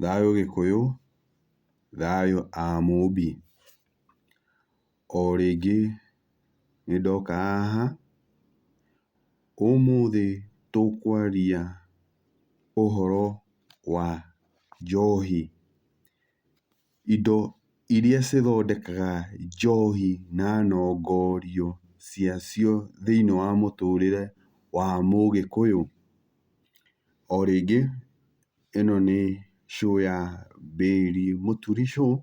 Thayũ gĩkũyũ, thayũ a mũmbi. O rĩngĩ nĩ ndoka haha, ũmũthĩ tũkwaria ũhoro wa njohi. indo iria cithondekaga njohi na nongorio cia cio thĩinĩ wa mũtũrĩre wa mũgĩkũyũ. O rĩngĩ ĩno nĩ show ya Billy Mũturi Show,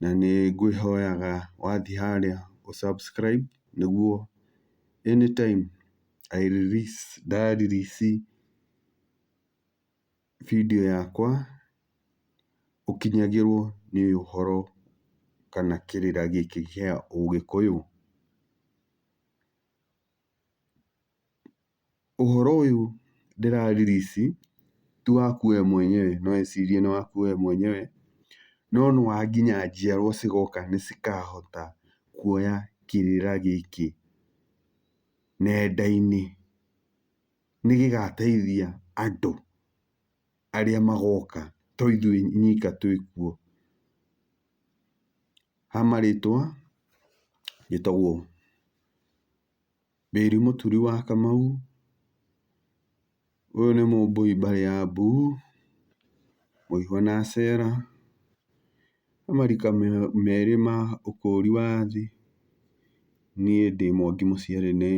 na nĩ ngwĩhoyaga wathiĩ harĩa ũ subscribe nĩguo anytime I release nda release. video yakwa ũkinyagĩrwo nĩ ũhoro kana kĩrĩra gĩkĩ kĩa ũgĩkũyũ. Ũhoro ũyũ ndĩra release ti waku we mwenyewe no wĩcirie nĩ waku we mwenyewe, no nĩ wa nginya njiarwa cigoka nĩ cikahota kuoya kĩrĩra gĩkĩ nenda-inĩ. nĩ gĩgateithia andũ arĩa magoka to ithuĩ nyika twĩ kuo. Ha marĩtwa njĩtagwo Mary Mũturi wa Kamau, ũyũ nĩ Mũmbũi mbarĩ ya Mbu, Mũihwa na Acera, he marika merĩ ma ũkũri wa thĩ, niĩ ndĩ Mwangi mũciari nĩ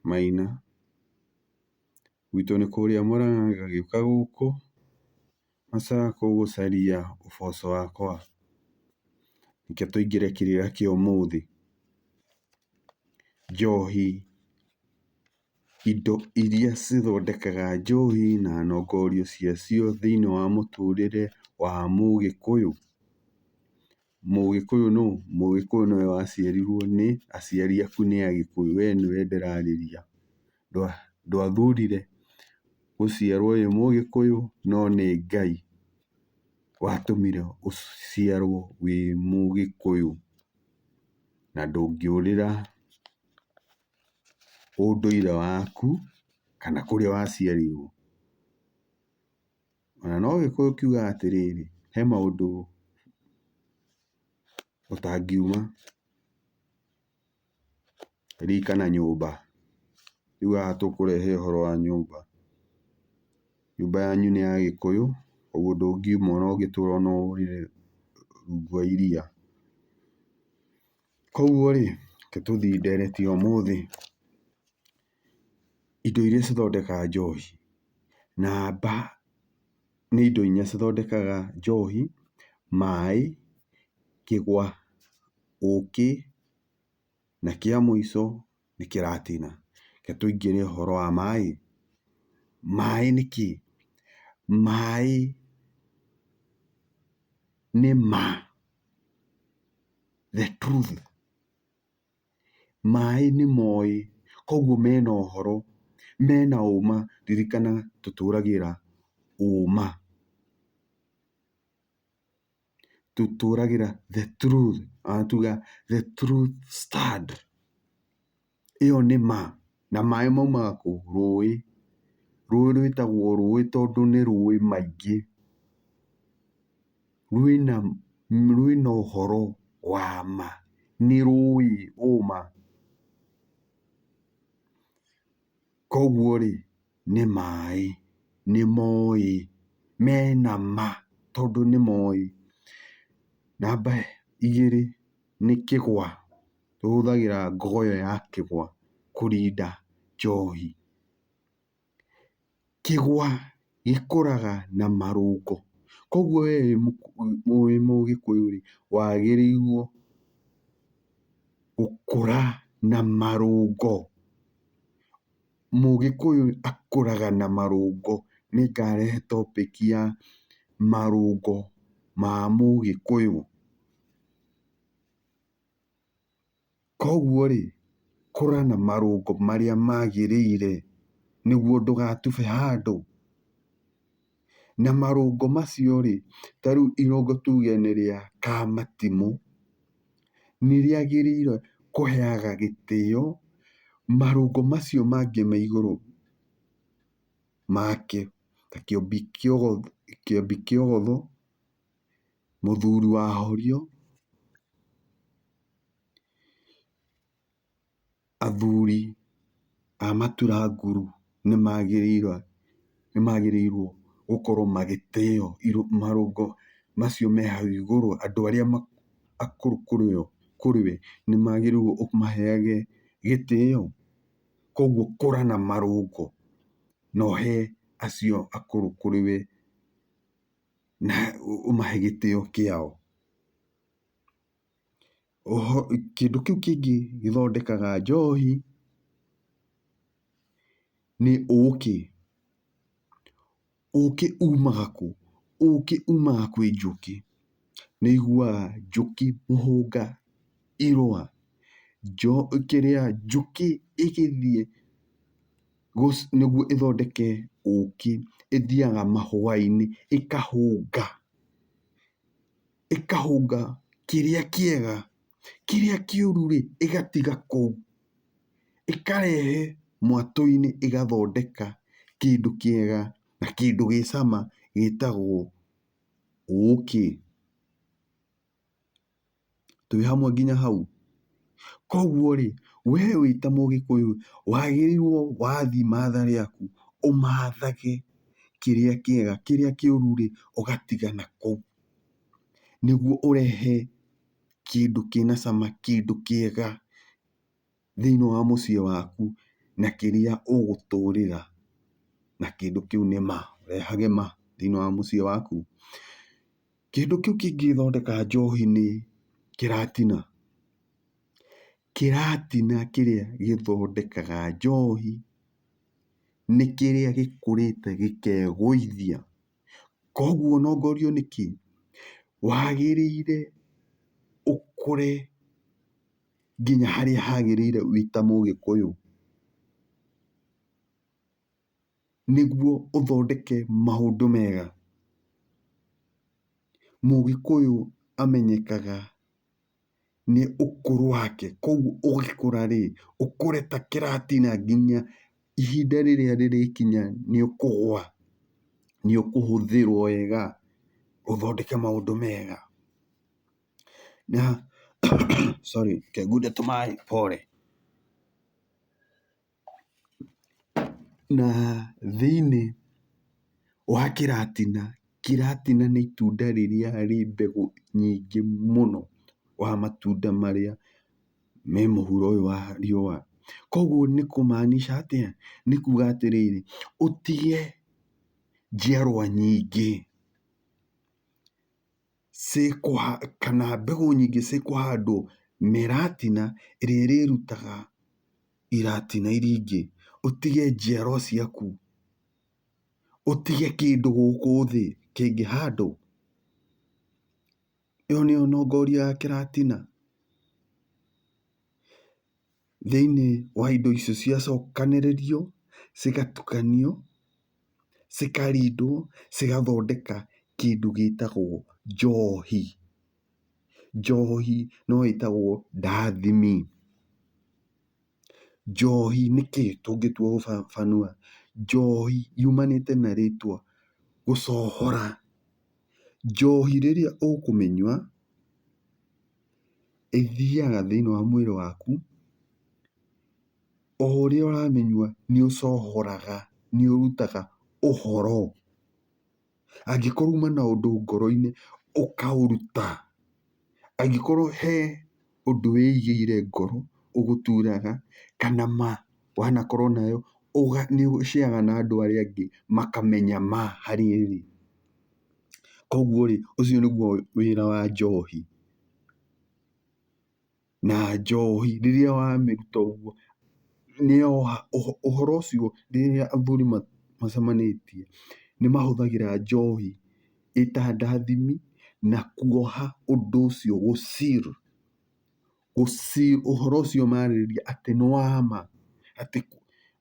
Maina. Gwitũ nĩ kũrĩa Mũrang'a ngagĩũka gũkũ macakũ gũcaria ũboco wakwa, reke tũingĩre kĩrĩra kĩa ũmũthĩ. Njohi, indo iria cithondekaga njohi na nongoria cia cio thĩiniĩ wa mũtũrĩre wa mũgĩkũyũ. Mũgĩkũyũ nũ? Mũgĩkũyũ nĩwe waciarirwo nĩ aciari aku nĩ Agĩkũyũ. We nĩwe ndĩrarĩria. Ndwathurire gũciarwo wĩ Mũgĩkũyũ no nĩ Ngai watũmire ũciarwo wĩ Mũgĩkũyũ. Na ndũngĩũrĩra ũndũire waku kana kũrĩa waciarirwo. O na no Gĩkũyũ kiugaga atĩrĩrĩ, he maũndũ ũtangiuma rika na nyũmba. Rĩu haha tũkũrehe ũhoro wa nyũmba. Nyũmba yanyu nĩ ya Gĩkũyũ, ũguo ndũngiuma o na ũngĩtũra o na ũrĩrĩ rungu wa iria. Kũguo rĩ, reke tũthiĩ ndereti ũmũthĩ. indo iria cithondekaga njohi. Na mbaa nĩ indo inya cithondekaga njohi, maĩ, kĩgwa, ũkĩ, na kĩa mũico nĩ kĩratina. Reke tũingĩre ũhoro wa maĩ. Maĩ nĩ kĩĩ? Maĩ nĩ ma, the truth. Maĩ nĩ moĩ, koguo mena ũhoro, mena ũma, ririkana tũtũragĩra ũma. Tũtũragĩra the truth, ona tuga the truth stand. Ĩyo nĩ ma. na maĩ maumaga kũu rũĩ, rũĩ rwĩtagwo rũĩ tondũ nĩ rũĩ maingĩ, rwĩna rwĩna ũhoro wa ma, nĩ rũĩ ũma. Koguo-rĩ, nĩ maĩ, nĩ moĩ, mena ma tondũ nĩ moĩ. Namba igĩrĩ nĩ kĩgwa. tũhũthagĩra ngogo ĩyo ya kĩgwa kũrinda njohi. Kĩgwa gĩkũraga na marũngo, koguo we wĩ mũgĩkũyũ rĩ, wagĩrĩirwo gũkũra na marũngo. Mũgĩkũyũ akũraga na marũngo. Nĩ ngarehe topic ya marũngo ma mũgĩkũyũ. Koguo rĩ, kũra na marũngo marĩa magĩrĩire nĩguo ndũgatube handũ. Na marũngo macio rĩ, ta rĩu irũngo tuge nĩ rĩa kamatimũ, nĩ rĩagĩrĩire kũheaga gĩtĩo marũngo macio mangĩ me igũrũ makĩo, ta kĩũmbi kĩogotho. Mũthuri wa Horio, athuri a matura nguru nĩ magĩrĩirwo, nĩ magĩrĩirwo gũkorwo magĩtĩo marũngo macio me hau igũrũ, andũ arĩa akũrũ kũrĩ we nĩ magĩrĩirwo ũmaheage gĩtĩo. Koguo kũra na marũngo na ũhe acio akũrũ kũrĩ we. na ũmahe gĩtĩo kĩao. Oho kĩndũ kĩu kĩngĩ gĩthondekaga njohi nĩ ũkĩ. Ũkĩ umaga kũ? Ũkĩ umaga kwĩ njũkĩ. Nĩ ũiguaga njũkĩ mũhũnga irũa, njũkĩ ĩgĩthiĩ. nĩguo ĩthondeke ũkĩ ĩthiaga mahũa-inĩ ĩkahũnga, ĩkahũnga kĩrĩa kĩega, kĩrĩa kĩũru rĩ ĩgatiga kũu, ĩkarehe mwatũ-inĩ ĩgathondeka kĩndũ kĩega na kĩndũ gĩ cama gĩtagwo ũkĩ. twĩ hamwe nginya hau. Koguo rĩ, we wĩ ta mũgĩkũyũ wagĩrĩirwo wathiĩ matha rĩaku ũmathage kĩrĩa kĩega, kĩrĩa kĩũru rĩ ũgatiga na kũu. Nĩguo ũrehe kĩndũ kĩna cama, kĩndũ kĩega. thĩinĩ wa mũciĩ waku na kĩrĩa ũgũtũrĩra na kĩndũ kĩu nĩ ma, ũrehage ma thĩinĩ wa mũciĩ waku. Kĩndũ kĩu kĩngĩthondeka njohi nĩ kĩratina. Kĩratina kĩrĩa gĩthondekaga njohi nĩ kĩrĩa gĩkũrĩte gĩkegũithia. Koguo ũnongorio nĩ kĩ? Wagĩrĩire ũkũre. nginya harĩa hagĩrĩire wĩ ta mũgĩkũyũ, nĩguo ũthondeke maũndũ mega. Mũgĩkũyũ amenyekaga nĩ ũkũrũ wake, koguo ũgĩkũra rĩ, ũkũre ta kĩratina nginya ihinda rĩrĩa rĩrĩkinya nĩ ũkũgwa, nĩ ũkũhũthĩrwo wega ũthondeke maũndũ mega. Sorry, ngengunde tũmaĩ pore. Na thĩiniĩ wa kĩratina, kĩratina nĩ itunda rĩrĩa rĩ mbegũ nyingĩ mũno wa matunda marĩa me mũhuro ũyũ wa riũa. Koguo nĩ kũ maanisha atĩa? Nĩ kuuga atĩrĩrĩ, ũtige njiarwa nyingĩ. kana mbegũ nyingĩ cikũhandwo na ĩratina ĩrĩa ĩrĩrutaga iratina iria ingĩ, ũtige njiarwa ciaku, ũtige kĩndũ gũkũ thĩ kĩngĩhandwo. Ĩyo nĩyo nongoria ya kĩratina? thĩinĩ wa indo icio ciacokanĩrĩrio cigatukanio, cikarindwo cigathondeka kĩndũ gĩtagwo njohi. Njohi no ĩtagwo ndathimi. Njohi nĩkĩ tũngĩtua gũbaba, njohi yumanĩte na rĩtwa gũcohora. Njohi rĩrĩa ũkũmĩnyua. ĩthiaga thĩinĩ wa mwĩrĩ waku, o ũrĩa ũramĩnyua nĩ ũcohoraga, nĩ ũrutaga ũhoro. Angĩkorwo uma na ũndũ ngoro-inĩ ũkaũruta, angĩkorwo he ũndũ wĩigĩire ngoro ũgũturaga kana ma wanakorwo nayo nĩ ũceyaga na andũ arĩa angĩ makamenya ma harĩa ĩrĩ. Koguo rĩ, ũcio nĩguo wĩra wa njohi. Na njohi rĩrĩa wamĩruta ũguo, ũhoro ũcio rĩrĩa athuri macemanĩtie, nĩ mahũthagĩra njohi ĩta ndathimi na kuoha ũndũ ũcio gũ seal. ũhoro ũcio marĩrĩria atĩ nĩ wa ma,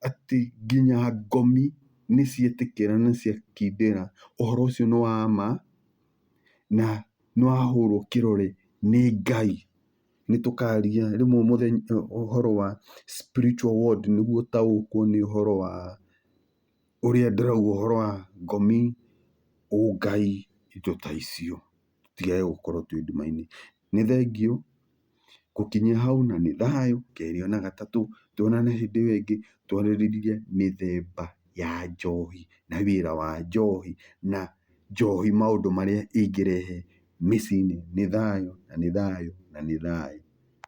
atĩ nginya ngomi nĩ cietĩkĩra na nĩ ciakindĩra, ũhoro ũcio nĩ wa ma na nĩ wa hũrwo kĩrore nĩ Ngai. Nĩ tũkaria rĩmwe mũthenya ũhoro wa spiritual world nĩguo ũtaũkwo nĩ ũhoro wa ũrĩa ndĩrauga ũhoro wa ngomi, ũngai, indo ta icio. Tũtigage gũkorwo twĩ nduma-inĩ. Nĩ thengiũ gũkinyia hau na nĩ thayũ. Kerĩ ona gatatũ tuonane hĩndĩ ĩyo ĩngĩ twarĩrĩrie mĩthemba ya njohi na wĩra wa njohi na njohi maũndũ marĩa ĩngĩrehe mĩciĩ-inĩ. Nĩ thayũ na nĩ thayũ na nĩ thayũ.